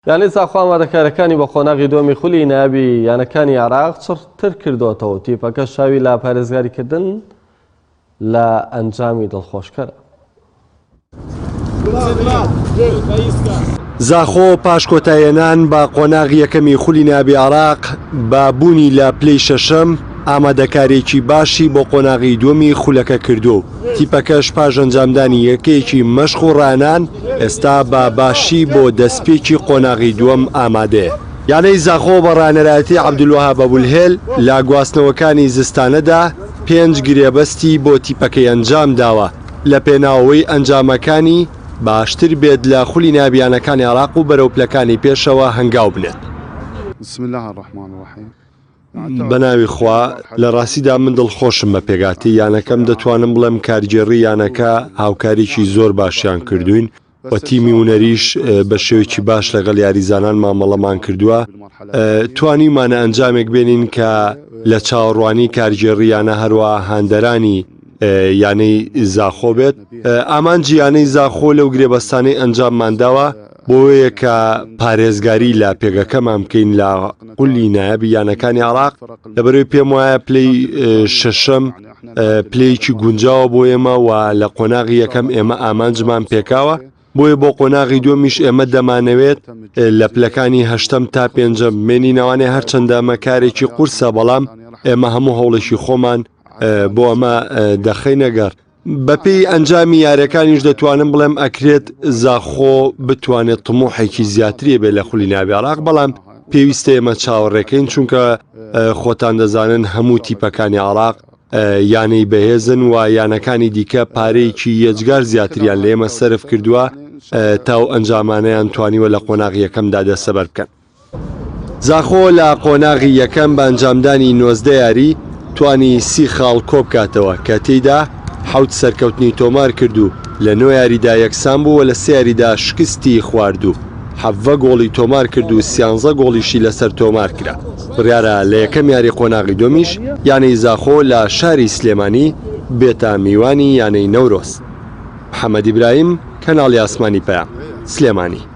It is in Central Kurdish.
یانەی ساخۆ ئامادەکارییەکانی بۆ قۆناغی دووەمی خولی نایابی یانەکانی عێراق چڕتر کردووەتەوە و تیپەکە شاوی لە پارێزگاریکردن لە ئەنجامی دڵخۆشکەرە. زاخۆ پاش کۆتایهێنان بە قۆناغی یەکەمی خولی نایابی عێراق، بە بوونی لە پلەی شەشەم، ئامادەکارییەکی باشی بۆ قۆناغی دووەمی خولەکە کردووە و تیپەکەش پاش ئەنجامدانی یەکەیەکی مەشق و ڕانان، ئێستا بە باشی بۆ دەستپێکی قۆناغی دووەم ئامادەیە. یانەی زاخۆ بە ڕانەرایەتی عەبدولوەهاب ئەبولهێل لە گواستنەوەکانی زستانەدا پێنج گرێبەستی بۆ تیپەکەی ئەنجامداوە لە پێناوەوەی ئەنجامەکانی باشتر بێت لە خولی نایابیانەکانی عێراق و بەرەو پلەکانی پێشەوە هەنگاو بنێت. بسم اللە الرحمن الرحیم. بەناوی خوا لە ڕاستیدا من دڵخۆشم بە پێکهاتەی یانەکەم دەتوانم بڵێم کارگێڕی یانەکە هاوکاریی زۆر باشیان کردوین و تیمی ونەریش بە شێوکی باش لەگەڵ یاریزانان مامەڵەمان کردووە توانیمانە ئەنجامێک بێنین کە لە چاوەڕوانی کارگێڕیانە هەروە هاندەرانی یانەی زاخۆ بێت ئامانجییانەی زاخۆ لەو گرێبەستانەی ئەنجاممانداوە بۆیە کە پارێزگاری لە پێگەکەمان بکەین لە قولی نایەبی یانەکانی عراق لەبەروی پێم وایە پلی شەشەم پلەیەکی گونجاوە بۆ ئێمە و لە قۆناغی یەکەم ئێمە ئامانجمان پێکاوە بۆیە بۆ قۆناغی دومیش ئێمە دەمانەوێت لە پلەکانی هەشتم تا پێنجە مێنی ناوانێ هەرچەندە ئەمە کارێکی قورسە بەڵام ئێمە هەموو هەوڵێکی خۆمان بۆ ئەمە دەخینەگەڕ بەپێی ئەنجامی یاریەکانیش دەتوانم بڵێم ئەکرێت زاخۆ بتوانێت تموحێکی زیاتری بێ لە خولی ناوی عراق بەڵام پێویستە ئێمە چاوەڕێکەین چونکە خۆتان دەزانن هەموو تیپەکانی عراق یانەی بەهێزن و یانەکانی دیکە پارەیەکی یەجگار زیاتریان لێمە سرف کردووە تاو ئەنجامانیان توانیوە لە قۆناغیەکەمدا دەسەبەر بکەن. زاخۆ لە قۆناغی یەکەم بە ئەنجامدانی نۆزدە یاری توانی سی خاڵ کۆبکاتەوە کە تێیدا حەوت سەرکەوتنی تۆمارکرد و لە نۆ یاریدا یەکسان بوو و لە سێ یاریدا شکستی خوارد و حەڤە گۆڵی تۆمارکرد و سیانزە گۆڵیشی لەسەر تۆمارکرا. بڕیارە لە یەکەم یاری قۆناغی دووەمیش یانەی زاخۆ لە شاری سلێمانی بێتە میوانی یانەی نەورۆز. محەمەد ئیبراهیم، کەناڵی ئاسمانی پەیام، سلێمانی.